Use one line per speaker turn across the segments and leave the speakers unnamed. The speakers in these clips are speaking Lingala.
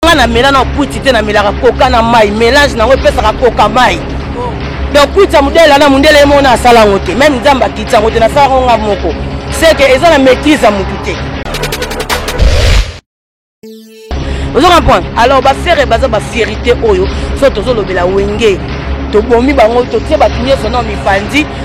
nga na mela na kwiti te na melaka koka na mai melange nango epesaka koka mai donc kwiti ya modele na mondele ye moko na asala yango te meme nzambe akiti yango te nasala yango nga moko seke eza na maîtrise ya motu te ozo comprendre alors bafere baza bafierité oyo so tozolobela wenge tobomi bango totie bato nyonso na mipanzi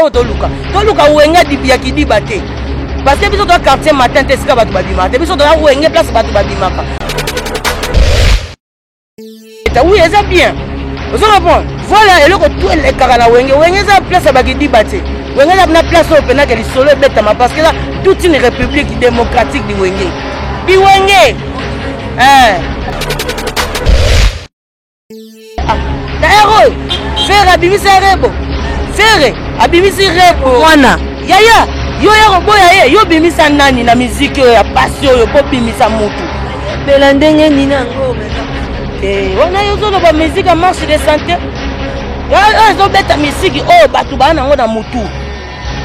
oyo toluka toluka wenge dipi ya kidiba te parce que biso toa quartier matin te esika bato babimaka te biso toya wenge place bato babimaka oui eza bien ozo comprendre voilà eloko tu elekaka na wenge wenge eza place ya bakidiba te wenge eza na place oyo mpenaka lisolo ebetama parce que eza toute une république démocratique di wenge biwenge eh. D'ailleurs oyo Ferre abimisi Rebo. Ferre abimisi Rebo mwana. Yaya yo ya koboya ye yo bimisa nani na miziki oyo ya pasi oyo mpo bimisa motu mpela ndenge nini yango eh, wana yo ozoloba miziki ya marche de santé oyo ezobeta miziki oyo bato baa nango na motu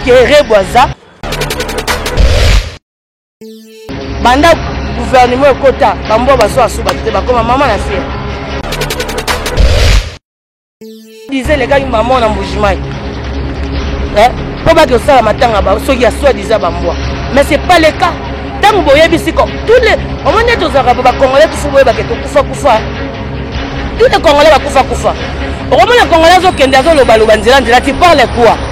kerebo aza banda guvernema ekota bambwa bazwa asu bato te bakoma mama na fiere diza elekaki mama na mbujimai mpo eh, baki osala matanga ba soki ya soi diza bambwa mais c'est pas le cas ntango boyebisi ko tous les omoni ete ozalaka bo bacongolais tufu boyebake tokufa kufa tous les congolais bakufa kufa okomona congolais azokende azolobaloba nzela nzela ti parle quoi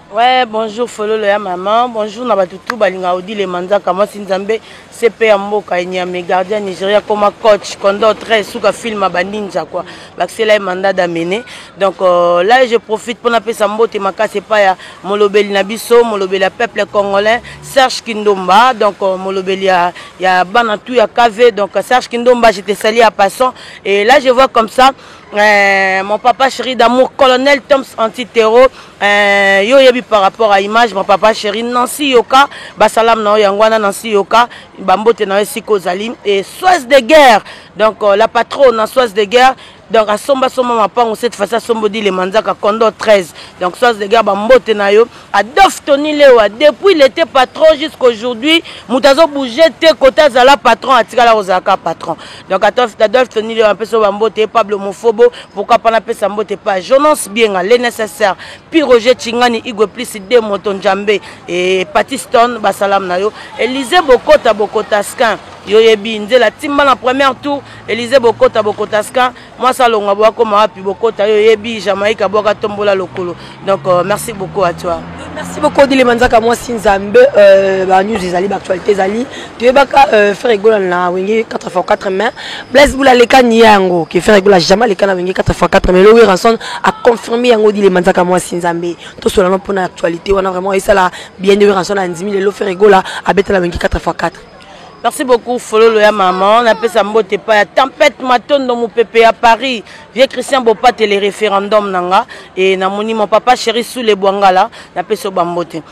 Ouais, bonjour
Fololo ya maman, bonjour na batu tout balinga Odile Manzaka, moi Sinzambe, CP ya mboka Enyame, gardien Nigeria koma coach, condor très suka film ba ninja quoi. Baksela mandat d'amener. Donc euh, là je profite pour appeler Sambote makase pa ya molobeli na biso, molobeli ya peuple congolais, Serge Kindomba, donc euh, molobeli ya ya bana tout ya KV, donc Serge Kindomba, je te salue à passant et là je vois comme ça euh, mon papa chéri d'amour colonel Toms anti-terreau Eh, yo oyebi par rapport à image ma papa chéri nansi yoka basalamu na yo yango wana nansi yoka bambote na yo esika ozali e soise de guerre donc euh, la patronne na soise de guerre donc asomba somba mapango cette fois asomba odile manzaka condo 13 donc soise de guerre bambote na yo adolphe tony lewa depuis il était patron jusqu'aujourd'hui moto azobouge te kote azala patron atikala kozalaka patron donc adolphe tony leo apesa yo bambote pablo mofobo pourkui mpo napesa mbote pa jonance bienga le nécessaire pi roger chingani igwe plus de moto njambe e patiston basalam na yo elise bokota bokotaskin yoyebi nzela timba na première tour elise bokota bokotaskin mwasi alonga bwakoma wapi bokota yoyebi jamaïque abwaka tombola lokolo donc euh, merci beaucoup à toi merci beaucoup odile
manzaka mwasi nzambe euh, banews ezali baactualité ezali toyebaka euh, frère egola na wenge 4 fois 4 mai blaise bula aleka niya yango ke frère egola jamais aleka na wenge 4 fois 4 mai lowi ranson aconfirme yango odile manzaka mwasi nzambe tosolana mpona actualité wana vraiment esala bien de ranson andimi lelo frère egola abeta na wenge 4 fois 4 Merci beaucoup
Fololo ya maman, na pesa mbote pa ya tempête matondo mupepe ya Paris, vieux Christian Bopate le référendum nanga et na moni mon papa chéri sous les Bwangala, na pesa ba mbote.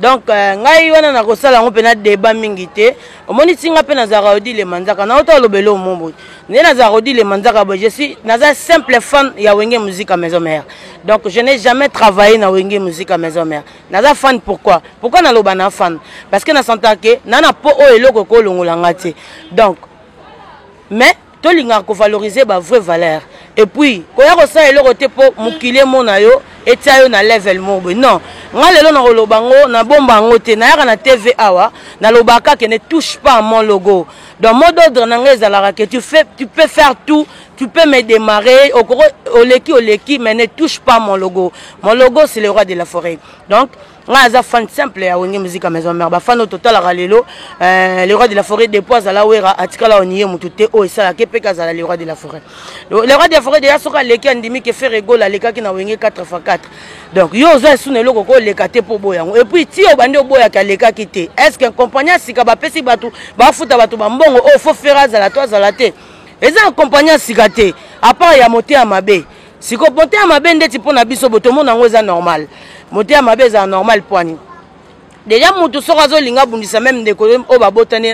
donc euh, ngai wana nakosala yango mpe na deba mingi te omoni ti ngai mpe nazalaka odile manzaka na ota olobela omo boye nde nazalaka odile manzaka boye je suis naza simple fan ya wenge musique ya maison mère donc je n'ai jamais travaillé na wenge musique ya maison mère naza fan pourquoi pourquoi naloba na fan parce que na sentaka ke na na po oyo eloko ekolongola nga te donc mais tolingaka kovaloriser bavrai valeur epuis koya kosala eloko te mpo mokili emona yo etya yo na level moko boye non nga lelo nakoloba yango nabomba yango te nayaka na tv awa nalobaka kaka ne touche pas mon logo donc mot d'ordre na ngai ezalaka ke tu, fais, tu peux faire tout tu peux me démarrer okoko oleki oleki mais ne touche pas mon logo mon logo c'est le roi de la forêt donc ngai aza fan simple ya wenge musique ya maison mère bafan oyo totalaka lelo euh, le roi de la forêt depuis azala wera atikala oniye motu te oyo esalaka epeke azala le roi de la forêt le roi de la forêt deya soki aleki andimi ke fere egola alekaki na wenge 4 fois 4 donc yo oza esu na eloko koleka te mpo oboya yango epuis ti obandi oboyaki alekaki te est ce que compagnie ya sika bapesi bato bafuta bato bambongo oyo oh, fo fere azala to azala te eza compagnie ya sika te apart ya mote ya mabe siko mote ya mabe ndeti mpo na biso botomona yango eza normal mote ya mabe ezala normal pwani deja motu soko azolinga abundisa meme ndeko oyo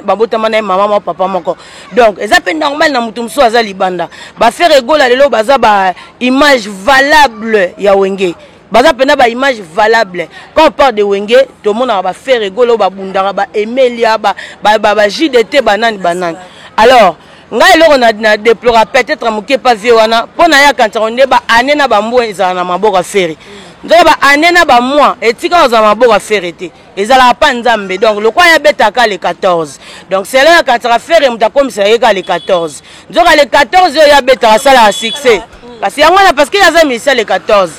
babotama na ye mama mwa papa moko donc eza mpe normal na motu mosusu aza libanda bafere egola lelo baza ba image valable ya wenge baza mpena ba image valable quand on parle de wenge tomonaka ba fere golo babundaka ba emelia ba, ba, ba, ba jdt banani banani alors ngai eloko na, na deplora peut-être moke pa vie wana mpo na ye akanisaka nde ba ane na bambwa ezala na maboko ya fere nzoka ba ane na bamwa etika ozala maboko ya fere te ezalaka pa nzambe donc lokola ya betaka le 14 donc selo ya kataka fere moto akomisaka ye kaka le 14 nzoka le 14 oyo ya betaka asalaka succès kasi yango wana parce que aza misa le 14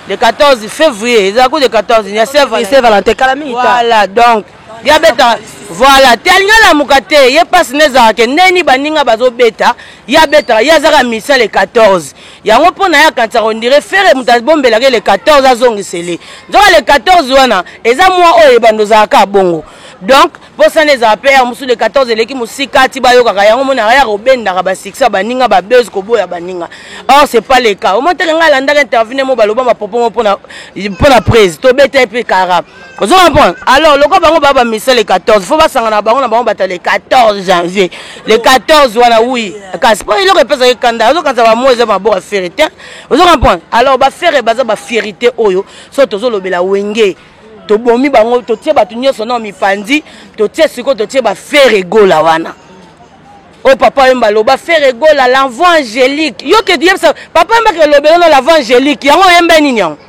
le 14 février ezala ku le 14 ya sevalentin kala mingi voilà donc ya betaka voilà te alingi alamuka te ye mpasi na ezalaka ke ndeni baninga bazobeta ye abetaka ye azaka misa le 14 yango mpo na ye akanisaka ondire fere moto abombelaka le 14 azongisele nzoka le 14 wana eza mwa oyo ebanda ozalaka bongo donc bosana ezala mpe ya mosusu le 14 eleki mosika ti bayokaka yango monaka ya kobendaka basuccès ya baninga babese koboya baninga or c'est pas le cas omonteke ngai alandaka intervine mo baloba mapopo mo mpo na prise tobeta ye mpe kara ozo comprendre alors lokola bango baa bamisa le 14 fo basangana bango na bango bata le 14 janvier le 14 wana wi kasi mpo eloko epesaka ekanda ozokanisa bamo eza maboko ya fere te ozo comprendre alors bafere baza bafierité oyo so tozolobela wenge tobomi bango totie bato nyonso nao mipanzi totie sikoyo totie bafere egola wana oyo oh, papa yemba aloba fere egola l'envoi angélique yo ke yebisa papa yemba ke elobelo na l'envoi angélique yango oyemba nini yango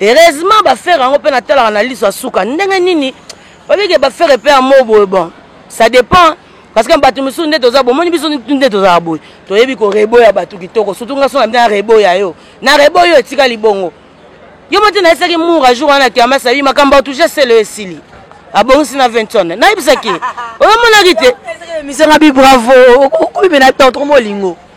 heureusement ba ferre yango mpe natalaka na liso ya suka ndenge nini obike ba ferre mpe ya mo boye bon ça dépend parce que bato mosusu nde toza bomoni biso nde tozala boye toyebi koreboya bato kitoko surtout nga sona na reboya yo na reboya yo etika libongo yo moti nayesaki mura jour wana kiamasa yi makambo atouche selo esili abongisi na vinton nayebisaki oyomonaki te emisanga bi bravo okomi mpe na tantro molingo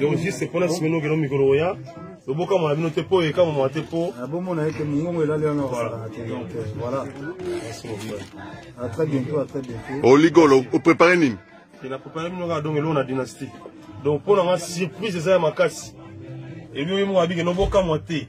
donc juste mpona nsima ino okenda mikolo oya loboka mwana bino te mpo oyeka mama te mpo ah, bomona ete mongongo
elali wana osalaka te donc euh, voilà à très bientôt à très bientôt oligolo
oh, oprépare nini na prépare bino
kaka donc eloko na dynastie donc mpo na nga surprise eza ya makasi ebi oyemoka bike nobokamwa te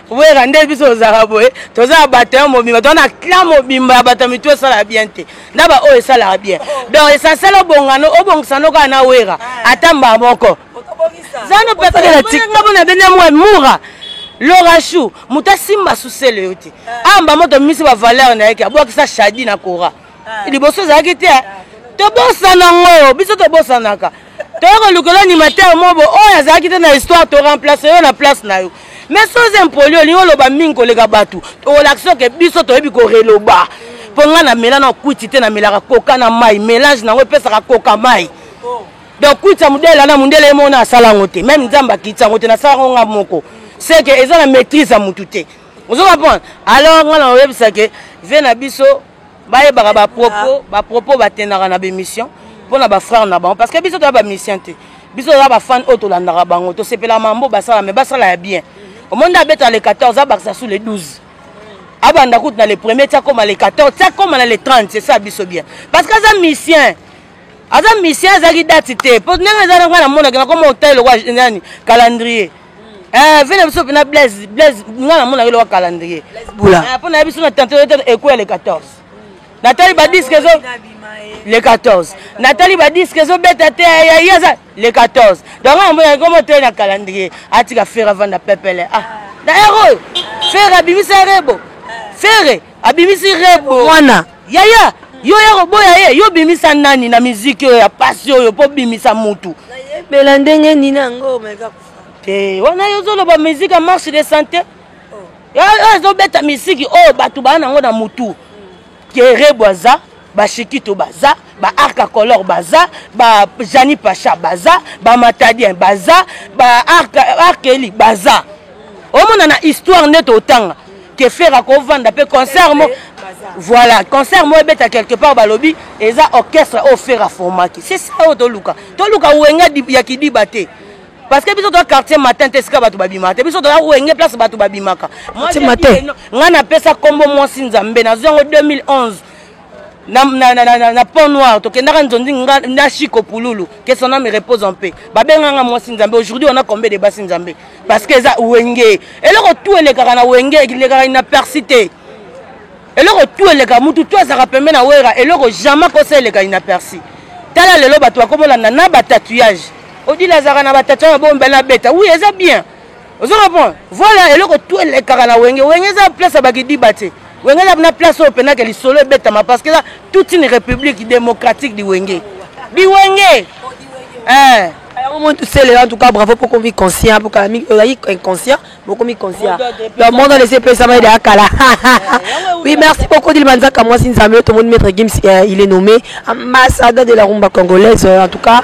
wera nde biso tozalaka boye toza na bato ya mobimba toza na clan mobimba ya bato ya mitu esalaka bien te na baoyo esalaka bien donc esansele obongano obongisa no kaka na wera ata mbaa moko zano pepekela tikta bona bene mwa mura lorachou moto asimba susele yo te ah. amba moto amimisi bavaleur na ye ke abwakisa shadi na kora ah. liboso ezalaki te ah. tobosana ngo biso tobosanaka toye kolukela animateur mobo oyo azalaki te na histoire to remplace yo na place na yo mais soz impoli olingi oloba mingi koleka bato tokolakisa oke biso toyebi koreloba mpo ngai namela na kwiti te namelaka koka na mai mélange nango epesaka koka mai donc kwiti ya modele na mondele ye moko na asala yango te meme nzambe akiti yango te nasala yango ngai moko seke eza na maîtrise ya motu te ozo comprendre alors ngai nakoyebisa ke vie na biso bayebaka bapropos bapropos batendaka na bemission mpo na bafrère na bango parce que biso toya bamisien te biso toza bafane oyo tolandaka bango tosepelaka mambo basala me basala ya bien omoni nde abeta le 14 abakisa sous le 12 abanda kutu na le premier ti akoma le 14 ti akoma na le 30 c'est ça biso bien parce que aza misien aza misien azalaki dati te mpo ndenge eza na ngai namonaki nakoma otai lokwa nani calendrier Eh, vie na biso mpena blaise blaise nga namona yo loka calendrier ah, mpo nayebi biso na tante ekweya le 14 natali badiske ezo le 14 natali badiske ezobeta te yaye aza le 14 donc nga namona yango motei na calendrier atika fere avanda pepele ah na ero oyo fere abimisa erebo fere abimisi rebo mwana yaya yo ya koboya ye yo bimisa nani na miziki oyo ya pasi oyo mpo bimisa mutu nayebela ndenge
nini yango omeka te wana yo
ozoloba miziki ya marche de santé oh. ezobeta miziki oyo oh, bato baa nango na mutu kerebwaza ba shikito baza ba arca color baza ba jani pacha baza ba matadien baza ba arkeli baza omona na histoire nde totanga ke fere akovanda mpe concert mo voilà concert mo ebeta quelque part balobi eza orchestre oyo fere aformaki c'est ça oyo toluka toluka wenga ya kidiba te parce que biso toza quartier matin te esika bato babimaka te biso toza wenge place bato babimaka ngai napesa nkombo mwasi nzambe nazwi yango 2011 na, na, na, na, na pont noir tokendaka nzondi nga na chiko pululu que son âme repose en paix babenganga mwasi nzambe aujourd'hui on a combien de basi nzambe parce que eza wenge eloko tu elekaka na wenge elekaka na persi te eloko tu eleka mutu tu azaka pembe na wera eloko jamais kosa eleka na persi tala lelo bato bakobolanda na batatouillage odila azaka na batatouillage na bombe na beta oui eza bien ozo comprendre voilà eloko tu elekaka na wenge wenge eza place ya bakidiba te wenge eza na place oyo mpenaka lisolo ebetama parce que eza toute une république démocratique di wenge di wenge eh. yango moi
tusele en tout cas bravo mpo okomi conscient mpo kala mingi ozali inconscient bokomi conscient le monde alesi epesama ede akala oui merci beaucoup dilima nzaka mwasi nzambe oyo tomoni maître gims il est nommé ambassadeur de la rumba congolaise en tout cas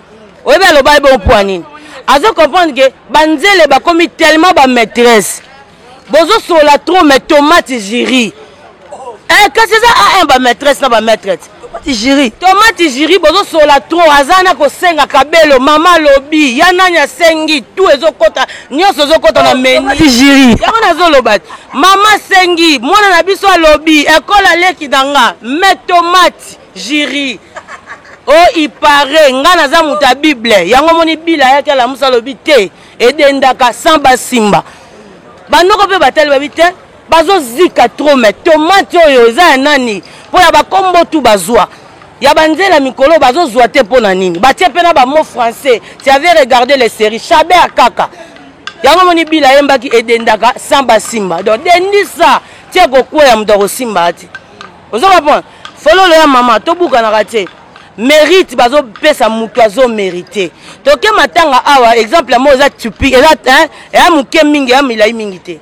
oyebi aloba ye bongo mpo ya nini azo comprendre ke banzele bakomi tellement bamaîtresse bozosolola trop mais tomate jiri eh, kasi eza a1 bamaîtresse na bamaîtrete tomate jiri bozosolola trop aza na kosenga kabelo mama alobi ya nani asengi tu ezokota nyonso ezokota na oh, meni yango
nazoloba te
mama asengi mwana na biso alobi ekole aleki na nga me tomate jiri o oh, ipare nga naza moto ya bible yango omoni bila ayaki alamusa alobi te edendaka sans basimba banoko mpe batali babi te bazozika tro me tomate oyo eza ya nani mpo ya bakombo tu bazwa ya banzela mikolo bazozwa te mpo na nini batie mpe na bamo français tu avais regardé les séries chaber kaka yango omoni bila ayembaki edendaka sans basimba donc dendisa tie kokweya moto akosimba ati ozo comprendre fololo ya mama tobukanaka te mérite bazopesa moto azo mérite toke matanga awa exemple yango eza tupi eza eya moke mingi eya milai mingi te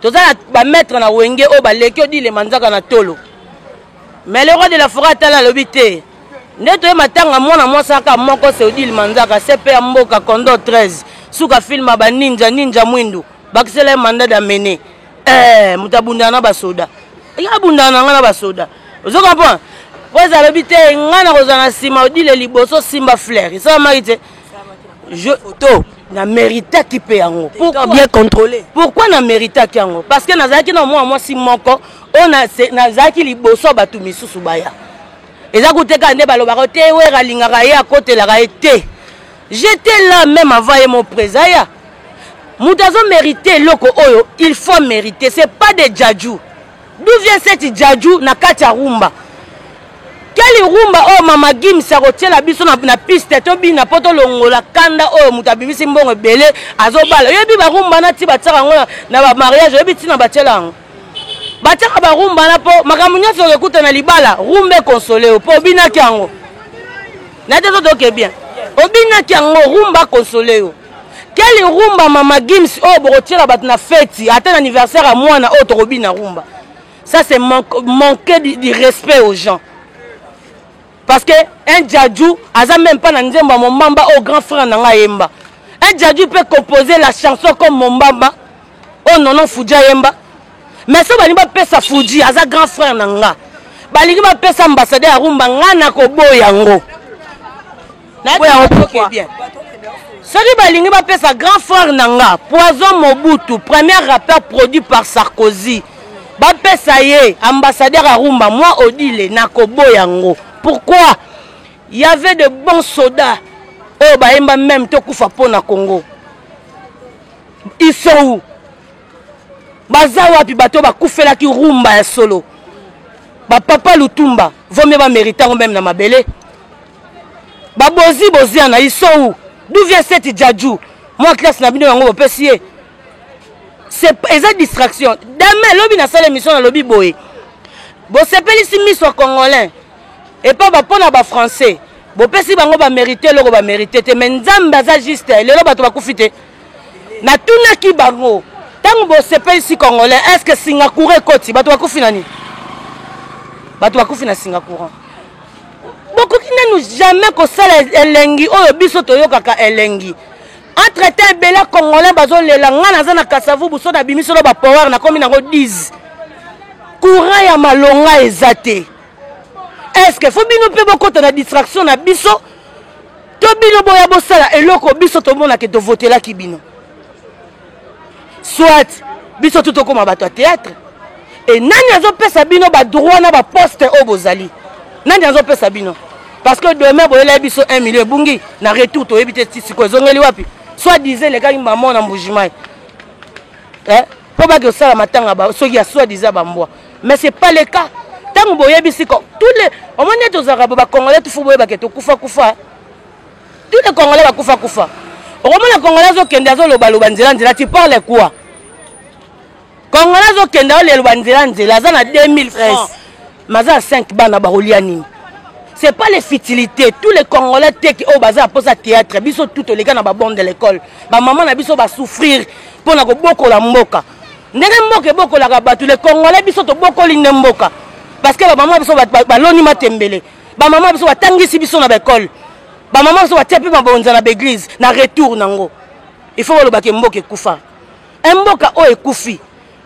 toza na bamaître na wenge oyo baleki odile manzaka na tolo mais le roi de la foret atala alobi te nde toye matanga mwana mwasi aka moko se odile manzaka cp ya mboka condo 13 suka filme ya baninja ninja mwindu bakisela ye mandat d'amene eh, moto abundana na basoda eke abundana na ngai na basoda ozo comprendre po eza alobi te ngai nakozwa na nsima odile liboso simba flair esalamaki te photo na méritaki mpe yango bien contrôlé
pourquoi na méritaki
yango parce que nazalaki na mwana mwasi moko oyo nazalaki liboso bato misusu baya eza kuteka nde balobaka te wera alingaka ye akotelaka ye te J'etais là même avant ye mon président aya. Moto azo merite eloko oyo, il faut meriter, c'est pas des djadjou. D'où vient cette djadjou na kati ya rumba? Quelle rumba oyo mama Gims akotiela biso na, na piste tobina po tolongola kanda oyo moto abimisi mbongo ebele azobala. Oyebi ba rumba na ti batiaka yango na ba mariage, oyebi ntina batiela yango? batiaka barumba wana mpo makambo nyonso okekuta na libala rumba ekonsole yo mpo obinaki yango na te totoke bien obinaki yango rumba konsole yo keli rumba mama gims oyo bokotiela bato na feti ata na anniversaire ya mwana oyo tokobina rumba ça c'est manque, manque du respect aux gens Parce que un Djadjou aza même pas na nzembo ya Mombamba au grand frère na nga yemba. Un Djadjou peut composer la chanson comme Mombamba au nono Fudja yemba. Mais so balingi bapesa Fudji aza grand frère na nga. Balingi bapesa ambassadeur ya Rumba nga na koboya yango. soki balingi bapesa grand frère na nga poison mobutu premier rappeur produit par sarkozy bapesa ye ambassadeur ya rumba mwa odile nakoboya yango pourquoi y avait de bons soda oyo oh, bayemba meme tokufa mpo na congo ils sont où baza wapi bato bakufelaki rumba ya solo bapapa lutumba vomie bamérite yango meme na mabele babozi boziana isou d'où vient cette djadjou mwa classe na bino yango bopesi ye eza distraction dame lobi nasala émission nalobi boye bosepelisi miso ya congolais epa bapo na bafrançais bopesi bango bamérite eloko bamérite te mai nzambe aza juste lelo bato bakufi te natunaki bango ntango bosepelisi congolais est ce que singacoura ekoti bato bakufi na nini bato bakufi na singacoura bokoki nanu jamais kosala elengi oyo biso toyokaka elengi entre temps ebele congolais bazolela ngai naza na kasavubu so nabimi solo bapower nakomi nango 10 courant ya malonga eza te estce fo bino mpe bokota na distraction na biso to bino boya bosala eloko biso tomonake tovotelaki bino soit biso tu tokoma bato ya théâtre e nani azopesa bino badroit na baposte oyo bozali nani azopesa bino parce que demain boyelai biso 1 million ebungi na retour toyebi te ti sikoyo ezongeli wapi soit disait elekaki mama na mbujimai eh? mpo bake osala matanga ba soki ya soit disait bambwa mais c'est pas le cas ntango boyebisi ko tous les omoni ete ozalaka bo bacongolais tufu boyebake tokufa kufa, kufa. Tous les Congolais bakufa kufa. Okomona Congolais azokende azoloba loba nzela nzela tu parles quoi? Congolais azokende aloba nzela nzela aza na 2000 francs. Maza 5 bana bakolia nini? C'est pas les futilités. Tous les Congolais teki oyo baza pour ça théâtre. Biso tout les gars na ba bande de l'école. Ba maman na biso ba souffrir pour na kobokola mboka. Ndenge mboka ebokolaka bato les Congolais biso tobokoli nde mboka. Parce que ba maman biso baloni matembele. Ba maman biso batangisi biso na ba école. Ba maman biso batia pe mabonza na ba église na retour nango. Il faut baloba ke mboka ekufa. Un mboka oyo ekufi.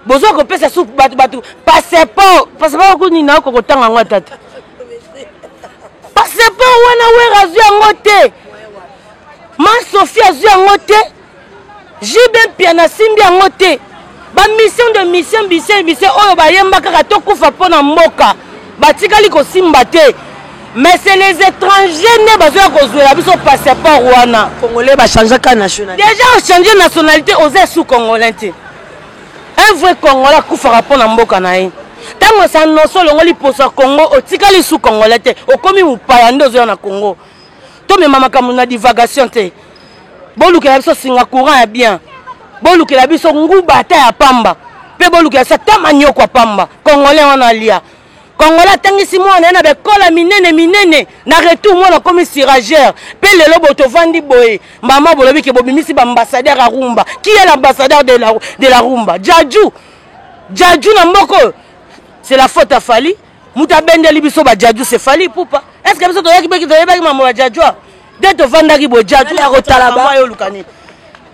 Bozo ko pesa soupe batu batu passeport passeport ko nina ko kotanga ngo tata. Passeport wana wera azui yango te. Ma Sophie azui yango te. JB Mpiana asimbi yango te bamission de mission bise bise oyo bayemba kaka tokufa mpo na mboka batikali kosimba te mais c'est les étrangers nde bazoya kozwela biso passeport wana congolais bachangaka
nationalité déjà ochange nationalité
oza sous congolais te un vrai congolais akufaka mpo na mboka na ye ntango esanoso olongoli poso ya congo otikali sous congolais te okomi mopaya nde ozoya na congo tomema makambo na divagation te bolukela biso singa courant ya bien bolukela biso nguba ata ya pamba mpe bolukela biso ata manioko ya pamba congolais wana alia kongola atangisi mwana ye na bekola minene minene na retour mwana akomi sirageur mpe lelo boye tovandi boye mama bolobi ke bobimisi baambassadeur ya rumba qui est l'ambassadeur de la, de la rumba jaju jaju na mboko oyo c'est la faute ya fali moto abendeli biso bajaju se fali pupa estce biso toyaki beki toyebaki mama bajajua nde tovandaki boye jaju akotalaba yo olukani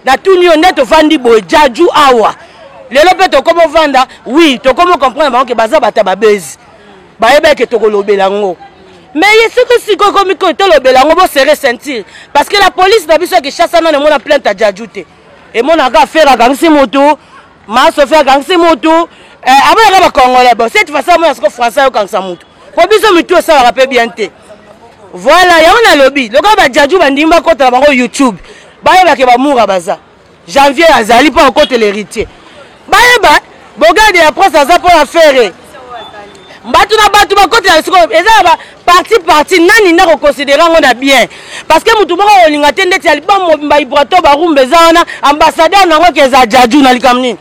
natuni yo nde tovandi boye jaju awa lelo mpe tokomi ovanda wi tokomi okomprendre bango ke baza bata babezi bayebaki ke tokolobela yango me ye soki sikoyo ekomi koyo tolobela yango bosere ceinture parce que la police na biso ya kinshasa nano emona plainte ya jaju te emonaka afere akangisi motu ma sofi akangisi mutu eh, amonaka bacongolais bon cette façon amona soko français ayokangisa mutu po biso mitu esalaka mpe bien te voilà yango nalobi lokola bajaju bandimi bakotela bango youtube bayebake bamura baza janvier azali mpo akotela héritier bayeba bogade ya prince aza mpo ya fere bato na bato bakotela sikoyo eza ya baparti parti nani nde akoconsidere yango na bien parce que motu moko akolinga te ndeti ya liba mobimba ibrato barumba eza wana ambassadeur na yango ke eza jaju na likambo nini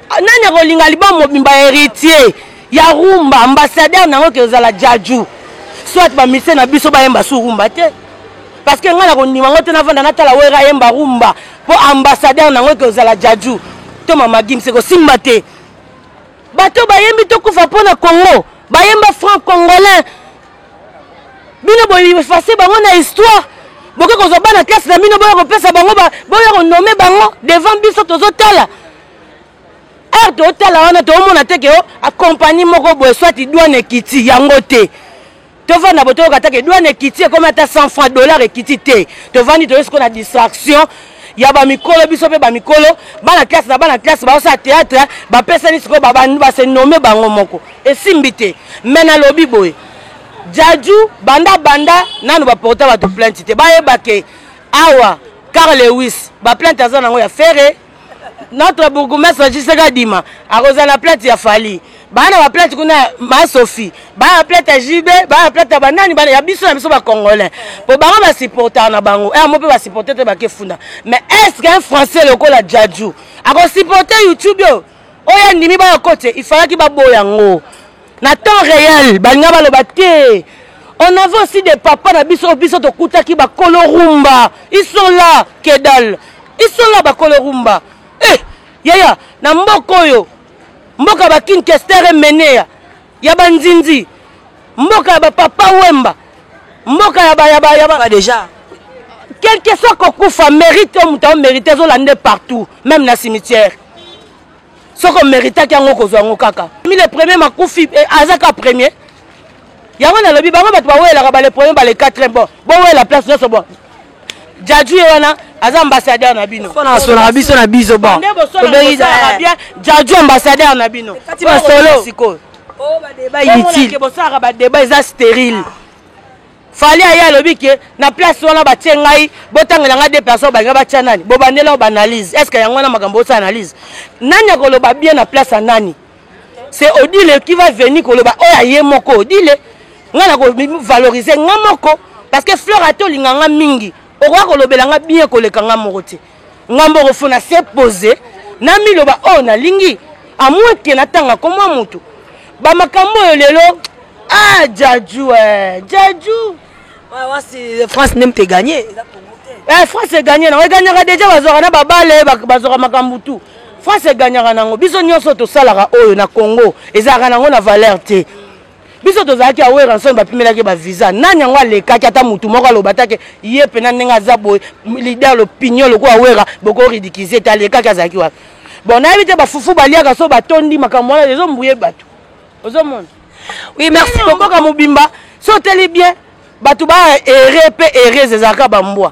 ah, nani akolinga liba mobimba héritier ya rumba ambassadeur na yango ke ozala jaju soit bamise na biso bayemba su rumba te parce que ngai nakondima yango te navanda natala wera ayemba rumba mpo ambassadeur na yango ke ozala jaju to mamagimse kosimba te bato bayembi tokufa mpo na congo bayemba franc congolais bino boefase bango na histoire boke kozwa bana classe na bino boya kopesa bango boya konome bango devant biso tozotala heure totala wana toomona te ke o oh, akompagnie moko boye swati dwane ekiti yango te tovanda bo toyoka take douane ekiti ekomi ata 100 franc dollar ekiti te tovandi toye sikoyo na distraction ya bamikolo biso mpe bamikolo bana classe na bana classe baosala théâtre bapesani sikoyo base nome bango moko esimbi te mai nalobi boye jaju banda banda nanu baporta bato plainte te bayeba ke awa car lewis baplainte aza nango ya fere notre bourgoumestre ajisaka adima akozala na plate ya fali baa na baplate kuna ma sophie baa na plate ya jb baa na plate ya banani bana ya biso na biso bacongolais mpo bango basupportaka na bango eh, mo mpe basupporte te bakefunda mais est ce qu'un français lokola jaju akosupporte youtube oyo oyo andimi bayakote ifalaki baboya yango na temps réel balinga baloba te on avait aussi des papa na biso biso tokutaki bakolo rumba ils sont là kedal ils sont là bakolo rumba eh yaya na mboka oyo mboka bakinkestere meneya ya banzinzi mboka ya bapapa wemba mboka ya bayaba yaba déjà quelque soit kokufa mérite oyo moto aomérite ezolande partout même na cimetière soki omeritaki yango okozwa yango kaka mi le premier makufi eh, aza ka premier yango nalobi bango bato bawelaka bale premier bale quatrième bon bowela place nyonso bon jaju ye wana aza ambassadeur na bino sonaka biso na
biso bon nde bosolaka
bien jaju ambassadeur na bino kati masolo
sikoyo oh, bosalaka badeba
eza stérile ah. Fally aye alobi ke na place wana batie ngai botangela ngai deux personnes balinga batia nani bobandela ba analyse est ce que yango wana makambo osa analyse nani akoloba bien na place ya nani c'est odile qui va venir koloba oyo aye moko odile ngai nakovalorize ngai moko parce que fleur ate olinga ngai mingi okoya kolobela ngai bien koleka ngai moko te nga mboko fo na se pose namiloba oyo oh, nalingi amweke natanga komwa motu bamakambo oyo lelo ah jaju eh, jaju
eh, france nde mpe gagne eh, france
egagne nango egagnaka deja bazwaka na babale bazwaka makambo tu france egagnaka nango biso nyonso tosalaka oyo na congo ezalaka nango na valeur te biso tozalaki ya weranson bapimelaki bavisa nani yango alekaki ata motu moko aloba take ye mpena ndenge aza boye lider lopinion lokola wera bokoridikize te alekaki azalaki wapi bon nayebi te bafufu baliaka so batondi makambo wana ezombuye bato ozomona oui merci
bokoka mobimba
so oteli bien bato ba ere mpe erese ezalaka bambwa